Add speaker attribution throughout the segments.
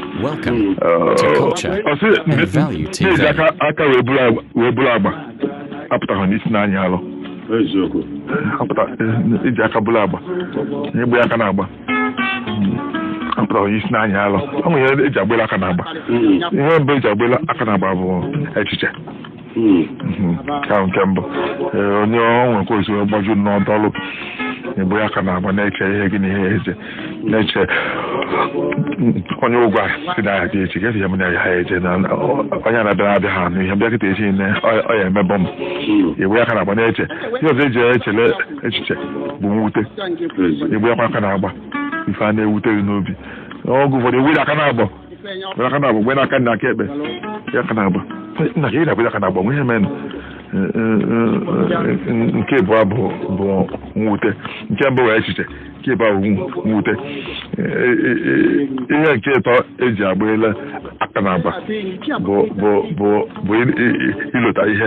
Speaker 1: Welcome to culture and value TV.
Speaker 2: aka wee buru agba apụtaghị na isi na-anyị alụ iji aka buru agba igbe aka n'agba apụtaghị na isi na-anyị alụ ọ nwere ihe eji agbela aka n'agba ihe mbụ eji agbela aka n'agba bụ echiche ka nke mbụ ee, onye ọ nwekwa esi wee gbaju nọdọlụ i bu aka n'agba na-eche ihe gị na ihe eje na-eche onye ụgwọ a si na ya dị echi gesi ya m na ya eje na na- ọ- onye a na-abịa abịa ha n'ihe bịa kịta echi ne ọ- ọ ya emebọ m i bu aka n'agba na-eche ihe ọzọ eji echele echiche bụ mwute i bukwa aka n'agba ife a na-ewute gị n'obi n'oge ụfọdụ ewere aka n'agba Mgbe aka n'agba mgbe n'aka na aka ekpe ya aka n'agba nna ka ị na-agba ya aka n'agba nwe ihe menụ nke ịbụa bụ bụ mwute nke mbụ wụ echiche nke ịbụa bụ mwute ihe nke ịtọ eji agbela aka n'agba bụ bụ bụ bụ ilota ihe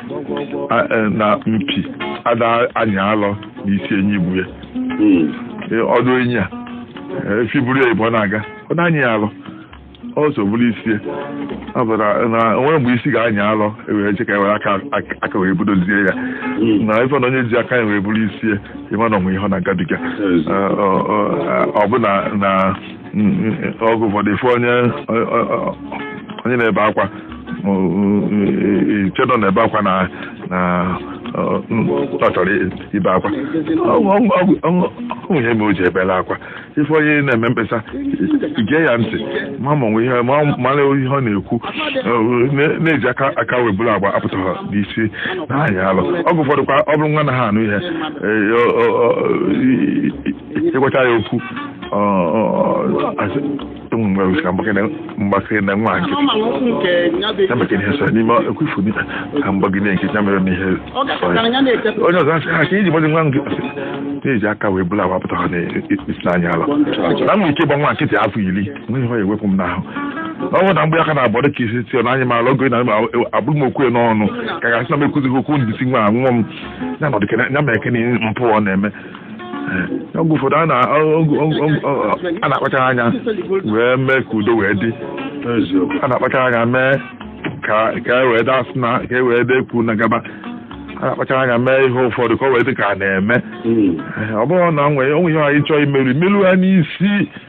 Speaker 2: e, na mpi ada anyị alọ na isi enyi bu ya hmm. e, ọdụ enyi a e, efi buru ya ibu na-aga ọ da anyị ya alọ ọ so buru isi na o nwe mgbe isi ga-anyị alọ ewere che ka ewere aka wee budozie ya hmm. na ị fụ na onye ji aka ya wee buru isi ị ma na o nwe ihe ọ na-agabiga ọ bụ na oge ụfọdụ ị fụ onye onye na-ebe akwa eche na ọ na-ebe akwa na na ọ chọrọ ibe akwa o nwe ihe mere o ji ebela akwa ị fụ onye na-eme mkpesa gee ya ntị ma ma o nwe ihe mara ihe ọ na-ekwu na iji aka aka wee buru agba apụtaghị na isi na-anyị alụ oge ụfọdụ kwa ọ bụrụ nwa anaghị anụ ihe ị gwachaa ya okwu ụmụ mgbe wụsịra mgbakere na nwa nkịtị ya maka ihe sọ n'ime ekwefu ka m gbagide nkịtị ya mere n'ihe onye ọzọ asị ha ka iji gbazi nwa nkịtị na iji aka wee bulu agba apụtaghị na isi na-anyị alọ na mma ike gba nwa nkịtị afọ iri nweghị ha ewepụ m n'ahụ ọ bụrụ na m gbe aka n'agba dị ka isi tio na-anyị m alọ oge na abụrụ m okwu n'ọnụ ka ga-asị na m ekwuzighị okwu n'isi nwa nwa m ya nọdụ ya mere kene mpụ ọ na-eme oge ụfọdụ a na- ọ- ọ- ọ- ọ- a na-akpachara anya wee mee ka udo wee dị a na-akpachara anya mee ka ka e wee daa sị na ka e wee dee kwu na-agaba a na-akpachara anya mee ihe ụfọdụ ka o wee dị ka a na-eme ọ bụghị na nwee o nwe ihe anyị chọọ imeru imeru ha n'isi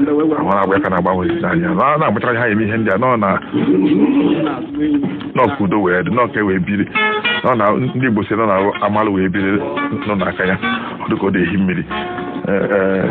Speaker 2: nwere agba aka n'agba nwe ezi anya na na-akpachara anya eme ihe ndị a nọ na nọ ka udo wee dị nọ ka e wee biri nọ na ndị Igbo sị nọ na amalụ wee biri nọ n'aka ya ọ dịka ọ dị ehi mmiri Ee, ee.